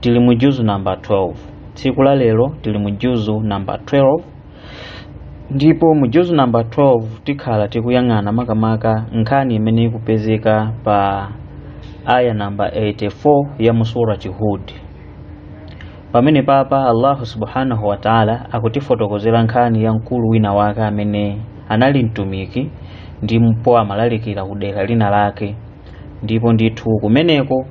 tili mu juzu namba 12 tsiku la lero tili mu juzu namba 12 ndipo mu juzu namba 12 tikhala tikuyang'ana makamaka nkhani imene ikupezeka pa aya namba 84 ya mu surati hud pamenepapa allahu subhanahu wa taala akutifotokozera nkhani ya mkulu wina wake amene anali mtumiki ndipo amalalikira ku dera lina lake ndipo ndithu kumeneko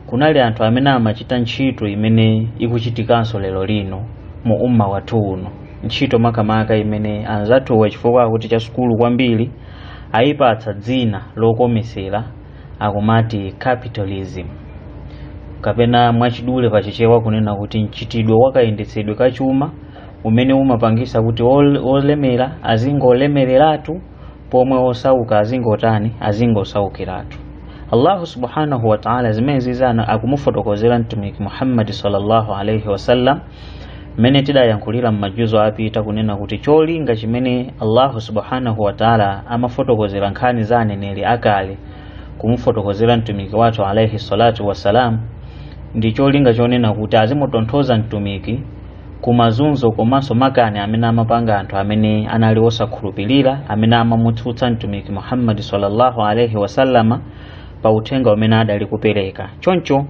kunali anthu amene amachita ntchito imene ikuchitikanso lero lino mu umma wathu uno ntchito makamaka imene anzathuwa chifukwa akuti cha sukulu kwambiri ayipatsa dzina lokomesera akumati capitalism kapena mwachidule pachichewa kunena kuti mchitidwe wakayendetsedwe ka chuma umene umapangisa kuti ol- olemera azingolemereratu pomwe osauka azingotani azingosaukiratu allahu subhanahu wataala zimene zizana akumufotokozera mtumiki muhammadi sallallahu alaihi wasallam mmene tidayankhulira m'majuzu apita kunena kuti cholinga chimene allahu subhanahu wataala amafotokozera nkhani za aneneri akale kumufotokozera mtumiki wathu alaihi salatu wassalam ndi cholinga chonena kuti azimutonthoza mtumiki ku mazunzo komanso makani amene amapanga anthu amene anali osakhulupirira amene amamutsutsa mtumiki muhammadi sallallahu alaihi wasallama pa uthenga umene adali kupereka choncho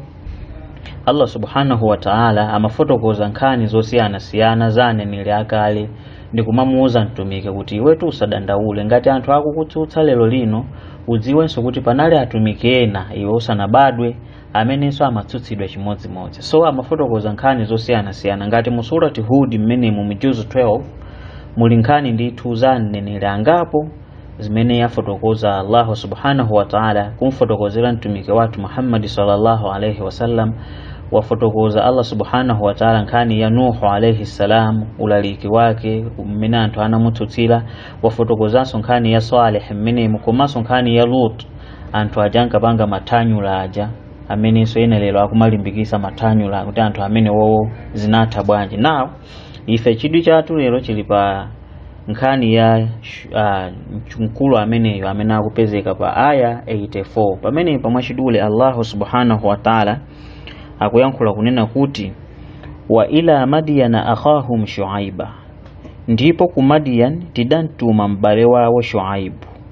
allah subhanahu wa taala amafotokoza nkhani zosiyanasiyana za aneneri akale ndi kumamuwuza mtumiki kuti iwetu usadandaule ngati anthu akukutsutsa lero lino udziwenso kuti panali atumiki ena iwe usanabadwe amenenso amatsutsidwa chimodzimodzi so amafotokoza nkhani zosiyanasiyana ngati mu surati hud mmenemu mu juzu 12 muli nkhani ndithu za aneneri angapo zimene wafotokoza allahu subhanahu wataala kumfotokozera mtumiki wathu muhammadi sallallahu alaihi wasallam wafotokoza allah subhanahu wataala nkhani ya nuhu alaihi ssalam ulaliki wake mmene anthu anamutsutsira wafotokozanso nkhani ya saleh mmenemu komanso nkhani ya lut anthu aja ankapanga mathanyula aja amenenso ena lero akumalimbikisa mathanyula kuti anthu amenewowo zinatha bwanji nawo ife chidwi chathu lero chili pa nkhani ya uh, mkulu ameneyo amene akupezeka pa aya 84 pamene pamwachidule allahu subhanahu wa taala akuyankhula kunena kuti wa ila madiyana akhahum shuaiba ndipo ku madiyan tidamtuma m'bale wawo shuaibu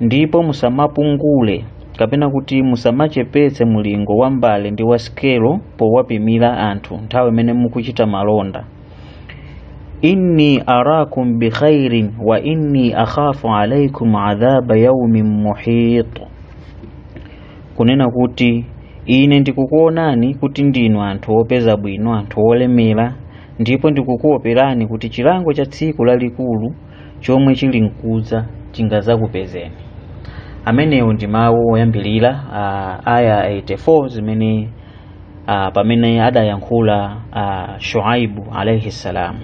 ndipo musamapungule kapena kuti musamachepetse mulingo wa mbale ndi wa sikelo powapimira anthu nthawi imene mukuchita malonda inni arakum bikhairin wa inni akhafu alaikum adhaba yaumin muhit kunena kuti ine ndikukuonani kuti ndinu anthu opeza bwino anthu olemera ndipo ndikukuoperani chilango cha tsiku lalikulu chomwe chili mkudza chingadzakupezeni amenewo ndi mawu oyambirira uh, aya 84 zimene uh, pamene adayankhula uh, shuaibu alaihi salam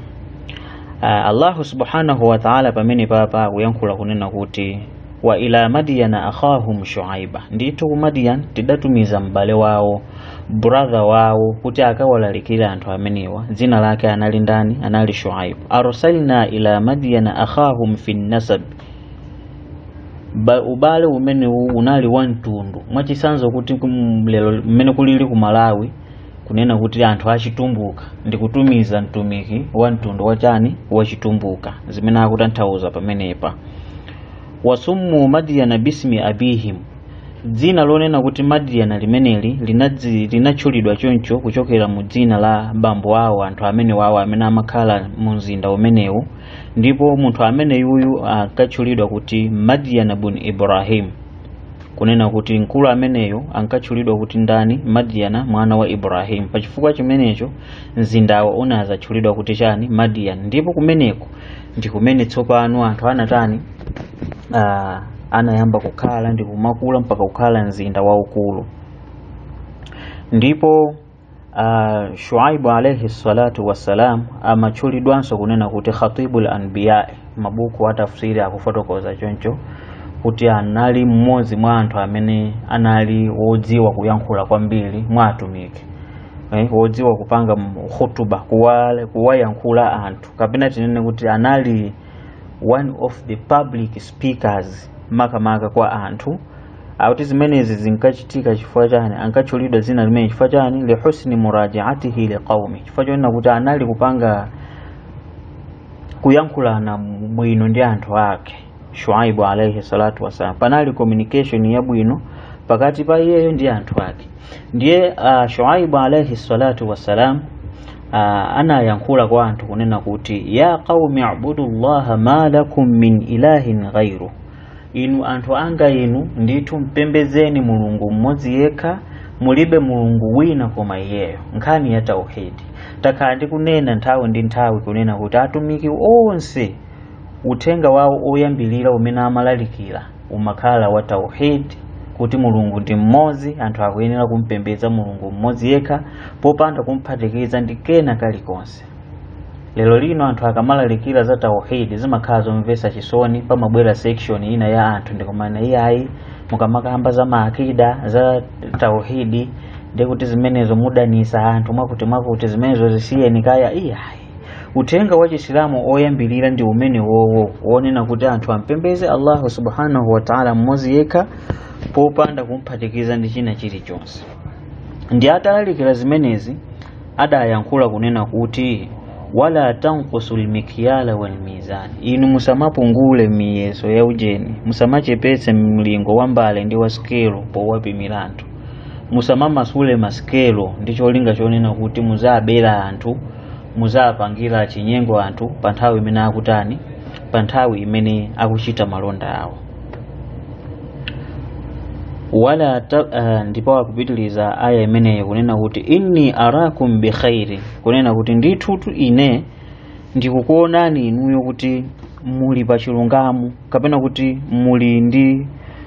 uh, allahu subhanahu wataala pamenepapa akuyankhula kunena kuti wa ila madiyana akhahum shuaiba ndithu ku madiyan tidatumiza m'bale wawo brother wawo kuti akawalalikire anthu amenewa dzina lake anali ndani anali shuaib arsalna ila madyana akhahum fi nnasabi, ubale umenewu unali wa mtundu mwachisanzo kuti kum- lero mmene kulili ku malawi kunena kuti anthu achitumbuka ndi kutumiza mtumiki wa mtundu wotani wachitumbuka zimene akutanthauza pamenepa wasummu madyana bismi abihim dzina lonena kuti madiyana limeneli linadzi- linatchulidwa choncho kuchokera mu dzina la bambo awo anthu amenewawo amene amakhala mu mzinda umenewu ndipo munthu ameneyuyu ankatchulidwa kuti madiyana bun ibrahim kunena kuti mkulu ameneyo ankatchulidwa kuti ndani madiyana mwana wa ibrahim pachifukwa chimenecho mzindawo unadzatchulidwa kuti chani madiyana ndipo kumeneko ndi kumene tsopano anthu anatani uh, anayamba kukhala ndi kumakula mpaka kukhala mzinda waukulu ndipo uh, shuaibu alaihi salatu wassalam amatchulidwanso kunena kuti khatibu lanbiyai mabuku atafsiri akufotokoza choncho kuti anali mmodzi mwa anthu amene anali wodziwa kuyankhula kwambiri mwa atumiki eh, wodziwa kupanga khutuba kuwayankhula anthu kapena tinene kuti anali one of the public speakers makamaka kwa anthu ake zimenezi zinkachitika chifukwa chani ankatchulidwa dzina limeneli chifukwa chani lihusni murajaatihi liqaumi chifukwa chonena kuti anali kupanga kuyankhulana bwino ndi anthu ake shuaibu alaihi salatu wasalam panali communication yabwino pakati pa iyeyo ndi anthu ake ndiye uh, shuaibu alaihi salatu wasalam uh, anayankhula kwa anthu kunena kuti ya qaumi abudu llaha ma lakum min ilahin ghairu inu anthu anga inu ndithu mpembezeni mulungu mmodzi yekha mulibe mulungu wina koma iyeyo nkhani ya tauhidi takhala tikunena nthawi ndi nthawi kunena kuti atumiki onse uthenga wawo oyambilira umene amalalikira umakhala wa tauhid kuti mulungu ndi mmodzi anthu akuyenera kumpembedza mulungu mmodzi yekha popanda kumphatikiza ndi kena kalikonse lero lino anthu akamalalikira za tauhid zimakhala zomvetsa chisoni pamabwera section ina ya anthu ndikumanena iyayi mukamakamba za maakida za tauhidi ndikuti zimenezo mudanisa anthu mwakuti mwakuti zimenezo zisiyeni kaya iyayi uthenga wa chisilamu oyambirira ndi umenewowo wonena kuti anthu ampembeze allahu subhanahu wataala mmodzi yekha popanda kumphatikiza ndi china chilichonse ndi atalalikira zimenezi adayankhula kunena kuti wala tankusul mikyala walmizani inu musamapungule miyeso ya ujeni musamachepetse mlingo wa mbale ndi wa sikelo powapimira anthu musamamasule masikelo ndi cholinga chonena kuti muzabera anthu muzapangira chinyengo anthu pa nthawi imene akutani pa nthawi imene akuchita malonda awo wala ta, uh, ndipo akupitiliza aya imeneyo kunena kuti inni arakum bi khairi kunena kuti ndithutu ine ndikukuonani inuyo kuti muli pa chilungamo kapena kuti muli ndi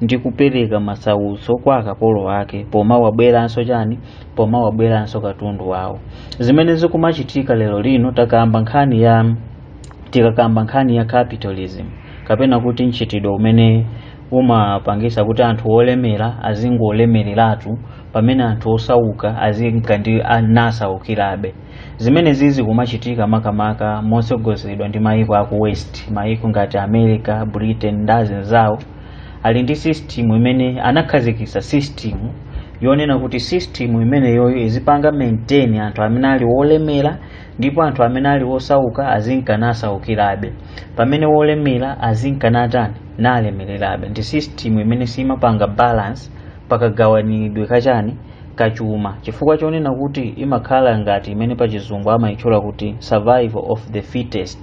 ndi kupereka masautso kwa akapolo ake pomawaberanso chani pomawaberanso katundu wawo zimene zikumachitika lero lino takamba nkhani ya tikakamba nkhani ya capitalism kapena kuti mchitidwe umene umapangisa kuti anthu olemera azingolemereratu pamene anthu osauka azinka nasaukirabe zimenezizi zikumachitika makamaka motsogozedwa ndi mayiko aku west mayiko ngati america britain ndi azinzawo ali ndi system imene anakhazikitsa system yonena kuti system imeneyoyo izipanga maintain anthu amene ali wolemera ndipo anthu amene ali wosauka azinka nasaukirabe pamene wolemera azinka natani nalemererabe ndi system imene simapanga balance pakagawanidwe ka chani ka chuma chifukwa chonena kuti imakhala ngati imene pachizungu amayitchula kuti survival of the fittest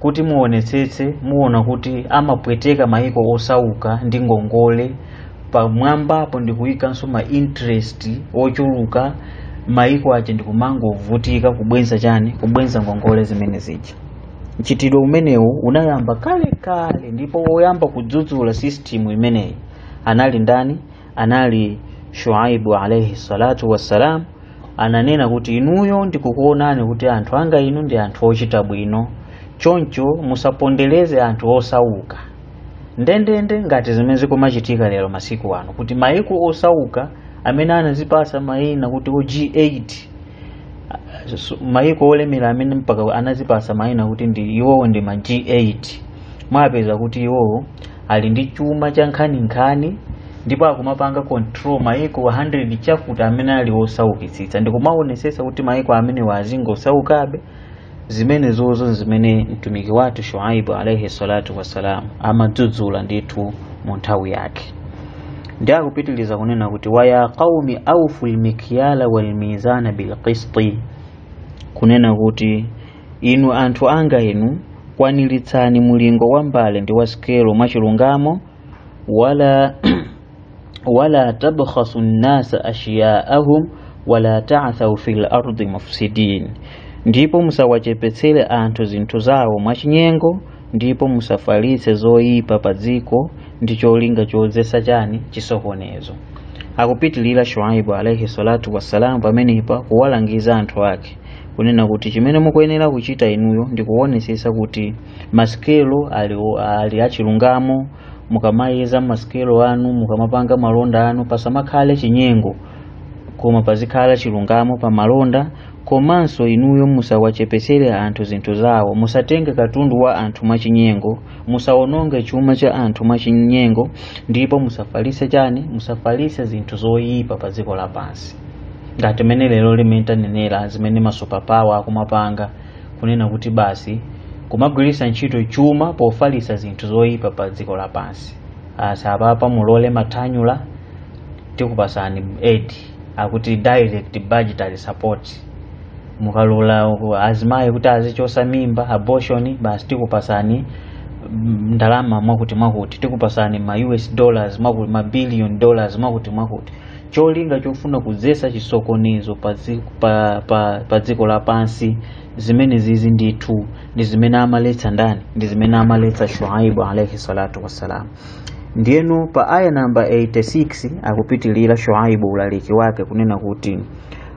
kuti muonetsetse muona kuti amapweteka maiko osauka ndi ngongole pamwambapo ndikuyikanso ma interest ochuluka maiko aja ndikumangovutika kubwenza chani kubwenza ngongole zimene zija mchitidwe umenewu unayamba kalekale ndipo woyamba kudzudzula system imeneyi anali ndani anali shuaibu alaihi salatu wassalam ananena kuti inuyo ndikukuonani kuti anthu anga inu ndi anthu ochita bwino choncho musapondereze anthu osauka ndendende ngati zimene zikumachitika lero masiku ano kuti maiko osauka amene anazipasa mayina kuti o g8 maiko olemera amene mpaka anazipasa mayina kuti ndi iwowo ndi ma g8 mwapeza kuti iwowo ali ndi chuma cha nkhaninkhani ndipo akumapanga control maiko 100 chakuti amene ali osaukitsitsa ndikumaonesesa kuti maiko amenewa azingosaukabe zimenezozo ndi zimene mtumiki wathu shuaibu alaihi salatu wassalamu amadzudzula ndithu mu nthawi yake ndi akupitiliza kunena kuti waya qaumi aufu lmikyala walmizana bilqisti kunena kuti inu anthu anga inu kwaniritsani mulingo wa mbale ndi wa sikelo mwachilungamo wala tabkhasu nnasa ashiyaahum wala ta'thaw fil ardi mufsidin ndipo musawachepetsere anthu zinthu zawo mwachinyengo ndipo musafalitse zoyipa pa dziko ndi cholinga chodzetsa chani chisokonezo akupitilira shuaibu alaihi salatu wassalamu pamenepa kuwalangiza anthu ake kunena kuti chimene mukuyenera kuchita inuyo ndi kuonetsetsa kuti masikelo ali, ali achilungamo mukamayeza masikelo anu mukamapanga malonda anu pasamakhale chinyengo koma pazikhale chilungamo pa malonda komanso inuyo musawachepesere anthu zinthu zawo musatenge katundu wa anthu mwachinyengo musawononge chuma cha anthu mwachinyengo ndipo musafalise chani musafalise zinthu zoyipa pa dziko lapansi ngati mene lero limene tanenera zimene ma superpower akumapanga kunena kuti basi kumagwiritsa ntchito chuma pofalisa zinthu zoyipa pa dziko lapansi asa ah, apapa mulole mathanyula tikupasani aid akuti direct budgetary support mukalola azimayi kuti azichosa mimba abortion basi tikupasani mm, ndalama mwakuti mwakuti tikupasani ma us dollars mwakuti ma billion dollars mwakuti mwakuti cholinga chofuna kudzesa chisokonezo pa dzi- pa- pa- pa dziko lapansi zimenezizi ndithu ndi zimene amaletsa ndani ndi zimene amaletsa shuaibu alaihi salatu wassalam ndiyeno pa aya namba 86 akupitilira shuaibu ulaliki wake kunena kuti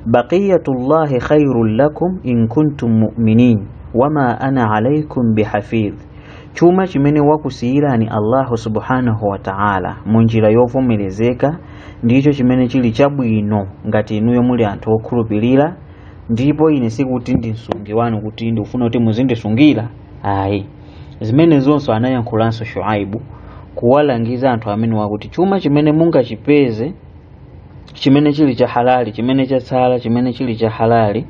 baqiyatullahi khairun lakum in kuntum mu'minin wama ana alaikum bihafidh chuma chimene wakusiyirani allahu subhanahu wa ta'ala mu njira yovomerezeka ndicho chimene chili chabwino ngati inuyo muli anthu okhulupirira ndipo ine sikuti ndi msungi wanu kuti ndikufuna kuti muzindisungira ayi zimenezonso anayankhulanso shuaibu kuwalangiza anthu amenewa kuti chuma chimene mungachipeze chimene chili cha halali chimene chatsala chimene chili cha halali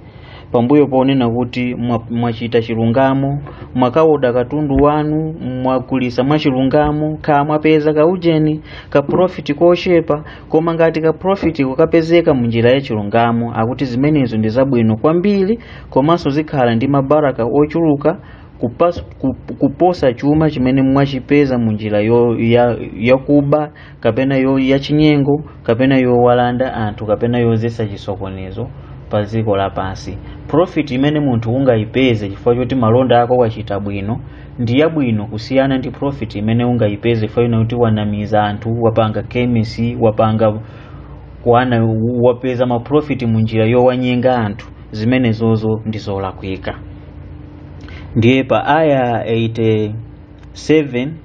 pambuyo ponena kuti mwa- mwachita chilungamo mwakaoda katundu wanu mwagulisa mwachilungamo kaya mwapeza kaujeni ka profit kochepa koma ngati ka profit mukapezeka mu njira ya chilungamo akuti zimenezo ndi zabwino kwambiri komanso zikhala ndi mabaraka ochuluka kupas, kup, kuposa chuma chimene mwachipeza mu njira yo- ya- yakuba kapena yo yachinyengo kapena yowalanda anthu kapena yodzetsa chisokonezo pa dziko lapansi profit imene munthu ungayipeze chifukwa choti malonda ako wachita bwino ndi yabwino kusiyana ndi profit imene ungayipeze chifukwa chonena kuti wanamiza anthu wapanga chemistry wapanga kuana wapeza ma profit mu njira yowanyenga anthu zimenezozo ndi zolakwika ndiye pa aya 87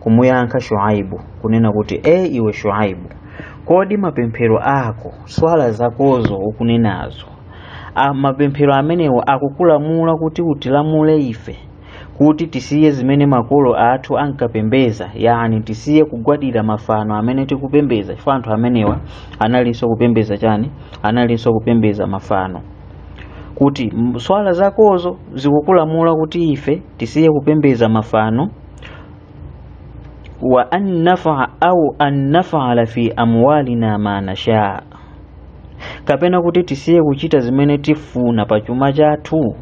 kumuyankha shuaibu kunena kuti e iwe shuaibu kodi mapemphero ako swala zakozo ukunenazo a mapemphero amenewo akukulamula kuti utilamule ife kuti tisiye zimene makolo athu ankapembeza yani tisiye kugwadira mafano amene tikupembeza chifukwa anthu amenewa analinso kupembeza chani analinso kupembeza mafano kuti m- swala zakozo zikukulamula kuti ife tisiye kupembeza mafano wa an nafa au an nafala fi amwalina ma nasha kapena kuti tisiye kuchita zimene tifuna pa chuma chathu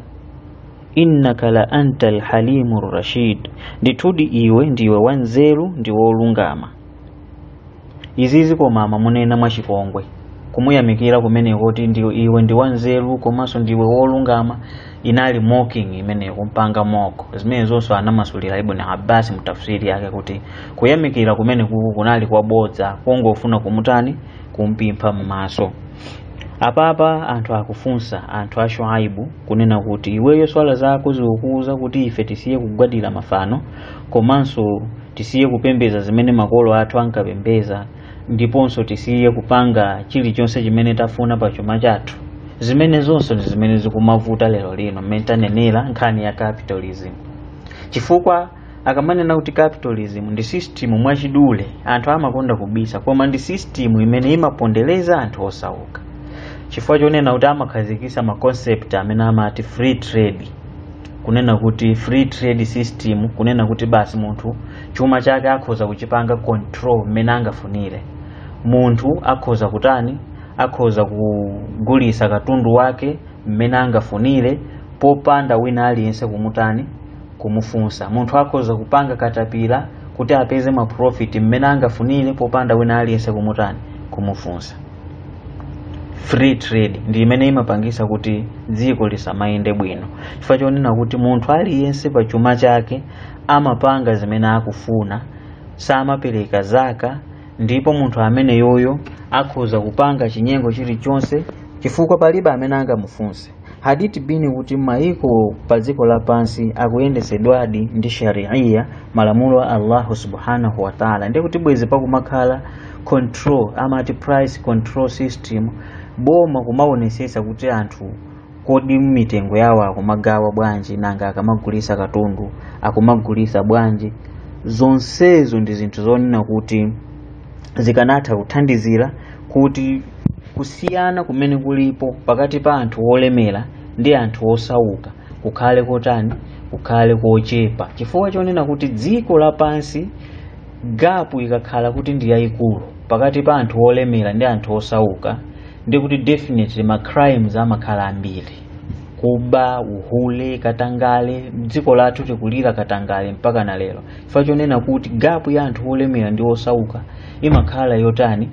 innaka la anta alhalimu rashid ndithudi iwe ndiwe wanzeru ndi wolungama izizi koma amamunena mwachipongwe kumuyamikira kumeneku kuti iwe ndi wanzeru komanso ndiwe wolungama inali mocking imene kumpanga mock zimenezonso anamasulira ibn abbas mutafsiri yake kuti kuyamikira kumeneku kunali kwabodza kongofuna kumutani kumphimba m'maso apapa anthu akufunsa anthu a shuaibu kunena kuti iweyo swala zako zikukuuza kuti ife tisiye kugwadira mafano komanso tisiye kupembeza zimene makolo athu ankapembeza ndiponso tisiye kupanga chilichonse chimene tafuna pa chuma chathu zimenezonso ndi zimene zikumavuta lero lino mmene tanenera nkhani ya capitalism chifukwa akamanena kuti capitalism ndi system mwachidule anthu amakonda kubisa koma ndi system imene imapondereza anthu osauka chifukwa chonena kuti amakhazikisa ma concept amene amati free trade kunena kuti free trade system kunena kuti basi munthu chuma chake akhoza kuchipanga control mmene angafunire munthu akhoza kutani akhoza kugulisa katundu wake mmene angafunire popanda wina aliyense kumutani kumufunsa munthu akhoza kupanga katapira kuti apeze maprofiti mmene angafunire popanda wina aliyense kumutani kumufunsa free trade ndi imene imapangisa kuti dziko lisamayende bwino chifukwa chonena kuti munthu aliyense pa chuma chake amapanga zimene akufuna samapereka zakat ndipo munthu ameneyoyo akhoza kupanga chinyengo chilichonse chifukwa palibe amene angamufunse had it been kuti maiko pa dziko lapansi akuyendetsedwadi ndi sharia malamulo a allahu subhanahu wataala ndiye kuti bwezi pakumakhala control amati price control system boma kumaonesesa kuti anthu kodi mitengo yawo akumagawa bwanji nanga akamagulisa katundu akumagulisa bwanji zonsezo ndi zinthu zonena kuti zikanatha kuthandizira kuti kusiyana kumene kulipo pakati pa anthu olemera ndi anthu osauka kukhale kotani kukhale kochepa chifukwa chonena kuti dziko lapansi gapu ikakhala kuti ndi yayikulu pakati pa anthu olemera ndi anthu osauka ndi kuti definitely ma crimes amakhala ambiri kuba uhule katangale dziko lathu tikulira katangale mpaka na lero chifukwa chonena kuti gapu ya anthu olemera ndi osauka imakhala yotani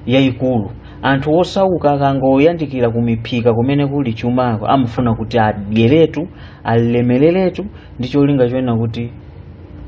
yayikulu anthu osauka akangoyandikira kumiphika kumene kuli chumako amafuna kuti adyeretu alemereretu ndi cholinga chonena kuti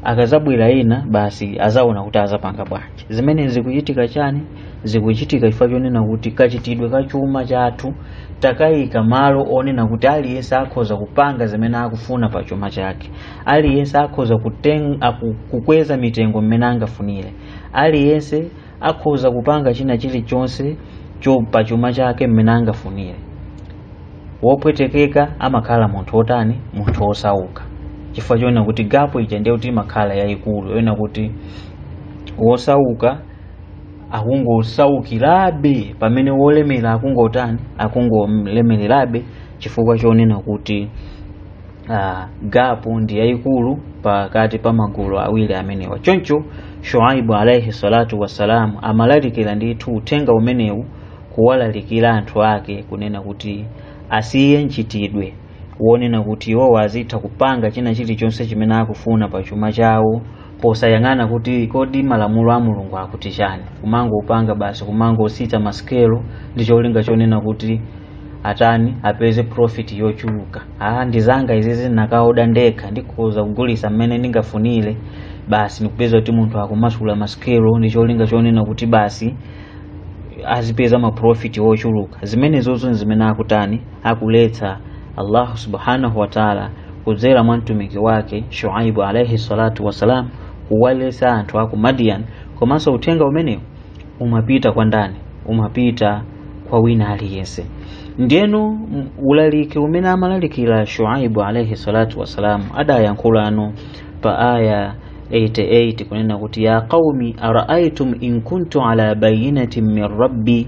akazabwera ena basi azaona kuti azapanga bwanji zimene zikuchitika chani zikuchitika chifukwa chonena kuti kachitidwe ka chuma chathu takayika malo onena kuti aliyense akhoza kupanga zimene akufuna pa chuma chake aliyense akhoza kuteng- aku- kukweza mitengo mmene angafunire aliyense akhoza kupanga china chilichonse cho pa chuma chake mmene angafunire wopwetekeka amakhala munthu wotani munthu wosauka chifukwa chonena kuti gapu ija ndiye kuti imakhala yayikulu yonena kuti wosauka akungosaukirabe pamene wolemera akungotani akungolemererabe chifukwa chonena kuti uh, gapu ndi yayikulu pakati pa magulu awiri amenewa choncho shuaibu alaihi salatu wassalamu amalalikira ndithu uthenga umenewu kuwalalikira anthu ake kunena kuti asiye mchitidwe wonena kuti iwowo azitha kupanga china chilichonse chimene akufuna pa chuma chawo posayang'ana kuti kodi malamulo a mulungu akuti chani kumangopanga basi kumangosita masikelo ndi cholinga chonena kuti atani apeze profit yochuluka ah ndizanga izizi ndakaoda ndekha ndikhoza kugulisa mmene ndingafunire basi ndikupezeka kuti munthu akumasula masikelo ndi cholinga chonena kuti basi azipeza maprofiti ochuluka zimenezozo nzimene akutani akuletsa allahu subhanahu wataala kudzera mwa mtumiki wake shuaibu alaihi salatu wassalam kuwaletsa anthu aku madian komanso uthenga umenewu umapita kwa ndani umapita kwa wina aliyense ndiyeno m- ulaliki umene amalalikira shuaibu alaihi salatu wassalam adayankhulanso pa aya 88 kunena kuti ya qaumi araaitum in kuntu ala bayinatin min rabbi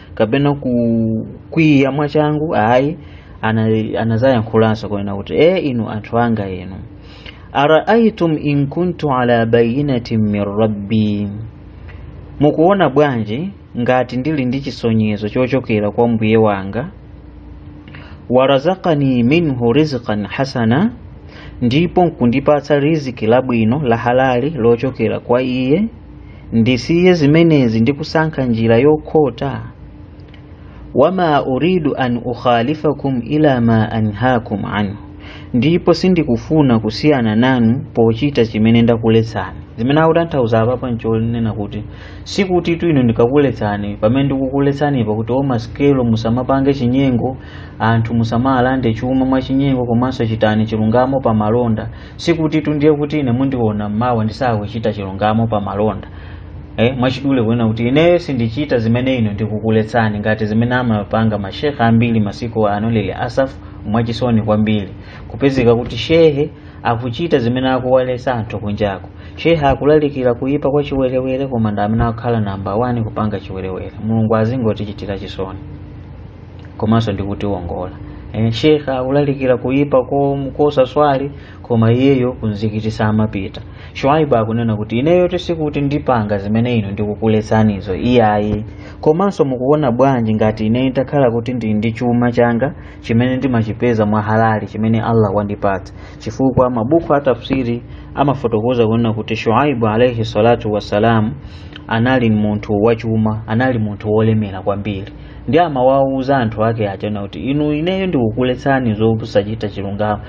kapena kukwiya mwachangu ayi ana- anadzayankhulanso kunena kuti e inu anthu anga inu araaitum in kuntu ala bayinatin min rabbi mukuona bwanji ngati ndili ndi chisonyezo chochokera kwa mbuye wanga warazakani minhu rizqan hasana ndipo nkundipatsa riziki labwino la halali lochokera kwa iye ndisiye zimenezi ndi kusankha njira yokhota wama uridu an ukhalifakum ila ma anhakum anhu ndipo sindikufuna kusiyana nanu pochita chimene ndakuletsani zimene akutanthauza apapa nchonena kuti sikuti tu inu ndikakuletsani pamene ndikukuletsani pa kuti masikelo musamapange chinyengo anthu musamawalande chuma mwachinyengo komanso chitani chilungamo pa malonda sikuti tu ndiye kuti ine mundiona mmawa ndisakuchita chilungamo pa malonda eh, mwachidule kunena kuti ineyo sindichita zimene inu ndikukuletsani ngati zimene amapanga mashehe ambiri masiku ano lil asaf mwachisoni kwambiri kupezeka kuti shehe akuchita zimene akuwaletsa anthu kunjako shehe akulalikira kuyipa kwa chiwerewere koma ndi amene akukhala namba 1 kupanga chiwerewere mulungu azingotichitira chisoni komanso ndikutiwongola Eh, shekhe akulalikira kuyipa kom- kosaswali koma iyeyo kumzikiti samapita shuaibu akunena kuti ineyo tu sikuti ndipanga zimene inu ndikukuletsanizo iyayi komanso mukuona bwanji ngati ine nditakhala kuti ndili ndi chuma changa chimene ndimachipeza mwa halali chimene allah wandipatsa chifukwa mabuku a tafsiri amafotokoza kunena kuti shuaibu alaihi salatu wassalamu anali munthu wachuma anali munthu wolemera kwambiri ndiye amawawuza anthu ake aja kuti inu ineyo ndikukuletsani zokusachita chilungamo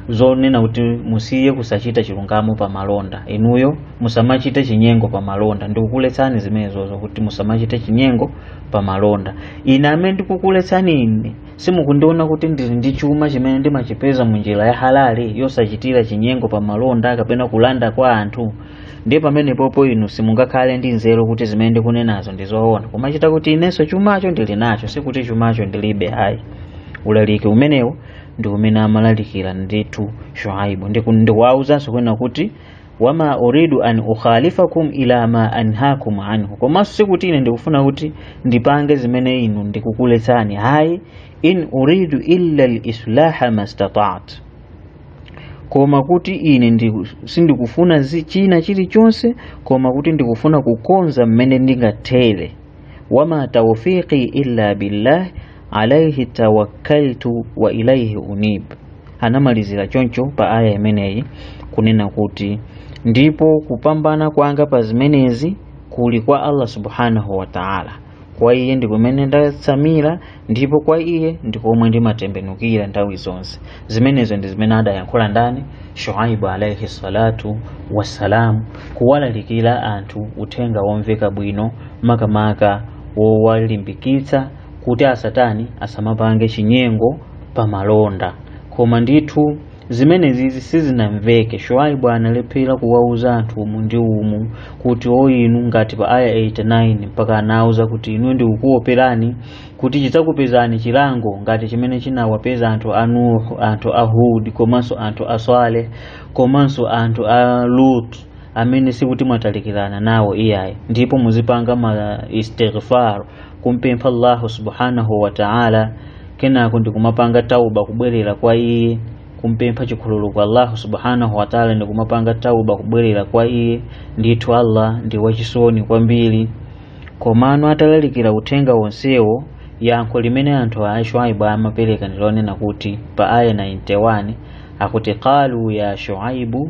zonena kuti musiye kusachita chilungamo pa malonda inuyo musamachite chinyengo pa malonda ndikukuletsani zimenezozo kuti musamachite chinyengo pa malonda ine amene ndikukuletsani ine simukundiona kuti ndili ndi chuma chimene ndimachipeza mu njira ya halali yosachitira chinyengo pa malonda kapena kulanda kwa anthu ndiye pamenepopo inu simungakhale ndi nzeru kuti zimene ndikunenazo ndi zoona kumachita kuti inenso chumacho ndili nacho sikuti chumacho ndilibe ayi ulaliki umenewo ndi umene amalalikira ndithu shuaibu ndikuwauzanso kunena kuti wama uridu an ukhalifakum ila ma anhakum anhu komanso sikuti ine ndikufuna kuti ndipange zimene inu ndikukuletsani hayi in uridu illa lislaha mastata'tu koma kuti ine ndi, sindikufuna zi- china chilichonse koma kuti ndikufuna kukonza mmene ndingathere wama taufiqi illa billah alaihi tawakkaltu wa ilaihi unib anamalizira choncho pa aya imeneyi kunena kuti ndipo kupambana kwanga pa zimenezi kuli kwa allah subhanahu wa taala kwa iye ndi kumene ndatsamira ndipo kwa iye ndi komwe ndimatembenukira nthawi zonse zimenezo ndi zimene adayankhula ndani shuaibu alaihi salatu wassalamu kuwalalikira anthu uthenga womveka bwino makamaka wowalimbikitsa kuti asatani asamapange chinyengo pamalonda koma ndithu zimenezi sizinamveke shuaibu analephera kuwauza anthu umu ndi umu kuti o inu ngati pa aya 89 mpaka anawauza kuti ine ndikukuoperani kuti chidzakupezani chilango ngati chimene chinawapeza anthu a nuhu anthu a hud komanso anthu a swaleh komanso anthu a lut amene sikuti mwatalikirana nawo iyayi ndipo muzipanga ma istighfar kumpempha allahu subhanahu wa ta'ala kenako ndikumapanga tauba kubwerera kwa iye kumpempha chikhululuko kwa allahu subhanahu wa ta'ala ndikumapanga tauba kubwerera kwa iye ndithu allah ndi wachisoni kwambiri komano atalalikira uthenga wonsewo yankho limene anthu a shuaibu amapereka ndilonena kuti pa aya 91 akuti qalu ya shuaibu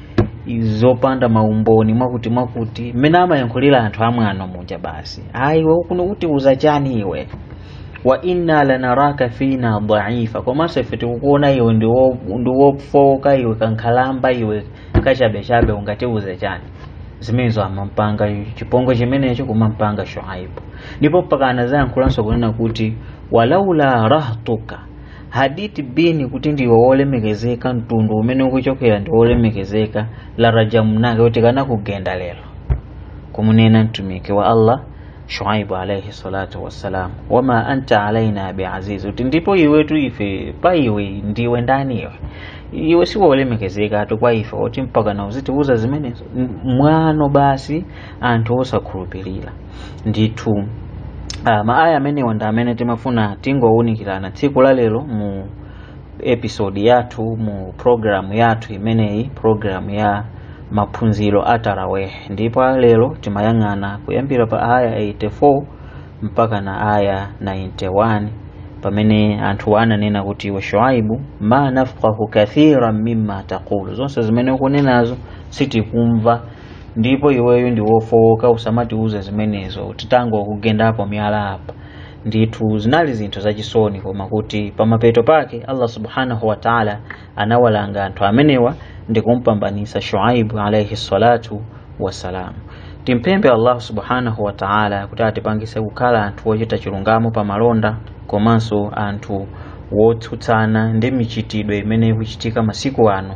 zopanda maumboni mwakuti mwakuti mmene amayankhulira anthu amwano muja basi a iwe utiuza chani iwe wa inna lanaraka fina dhaifa komanso ife tikukuona iwe ndi wo- ndi wofowoka iwe kankhalamba iwe kachabechabe ungatiuza chani zimenezo amampanga chipongwe chimenecho kumampanga shuaibu ndipo mpaka anazayankhulanso kunena kuti walaula rahtuka hadith bini kuti ndiwe wolemekezeka mtundu umene ukuchokera ndi wolemekezeka la rajamnaka kuti tikanakugenda lero kumunena mtumiki wa allah shuaibu alaihi salatu wassalam wama anta alaina biaziz kuti ndipo iwetu ife pa iwe ndiwe ndani iwe iwe siwolemekezekatu kwa ife kuti mpaka na uzitiuza zimenezo M- mwano basi anthu osakhulupirira ndithu uh, maaya amenewa ndi amene timafuna tingowaunikirana tsiku la lero mu episode yathu mu programu yathu imeneyi programu ya maphunziro a taraweh ndipo lero timayang'ana kuyambira pa aya 84 mpaka na aya 91 pamene anthu ananena kuti iwe shuaibu ma nafqahu kathiran mimma taqulu zonse zimene ukunenazo sitikumva ndipo iweyo ndi wofowoka usamatiuze zimenezo tingokugendapo miyala apa ndithu zinali zinthu zachisoni koma kuti pamapeto pake allah subhanahu wa taala anawalanga anthu amenewa ndi kumpambanisa shuaibu alaihi salatu wassalamu timpemphe allah subhanahu wa taala kuti atipangise kukhala anthu ochita chilungamo pa malonda komanso anthu wotsutsana ndi michitidwe imene ikuchitika masiku ano